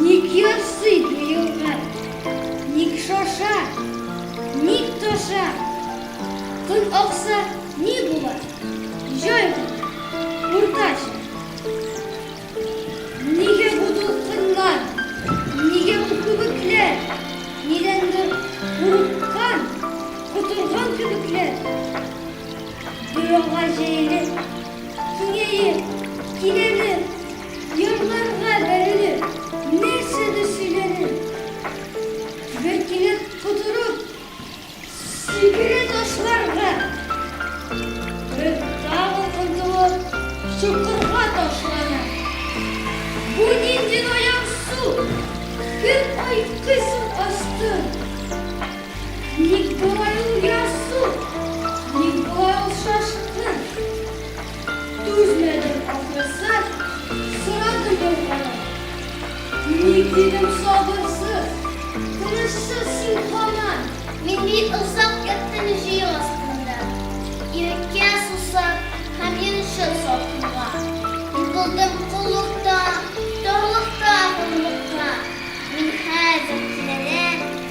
Ник ярсый бу елга? Ник шаша? Ник таша? Көн акса, ни була? Җай гына, уртача. Нигә бу дулкыннар? Нигә бу күбекләр? Нидәндер курыккан, котырган кебекләр. Буяуга җәелеп, киңәеп, кирәлеп, ярларга бәрелеп, нәрсәдер сөйләнеп, бер кинәт котырып, сикерә ташларга, бер тагын омтылып, чокырга ташлана. Бу нинди наян су! Кем айкый соң астын? Ник болай ул ярсу, ник болай ул шашкын? Түзмәдем, ахрысы, сорады елмаеп. Ник, дидем, сабырсыз, тынычсыз син һаман? Мин бик озак яттым җөеп астында, иреккә сусап һәм йончып салкынга. Йокылдым коллыкта, тарлыкта, горурлыкта. Мин хәзер кинәнәм.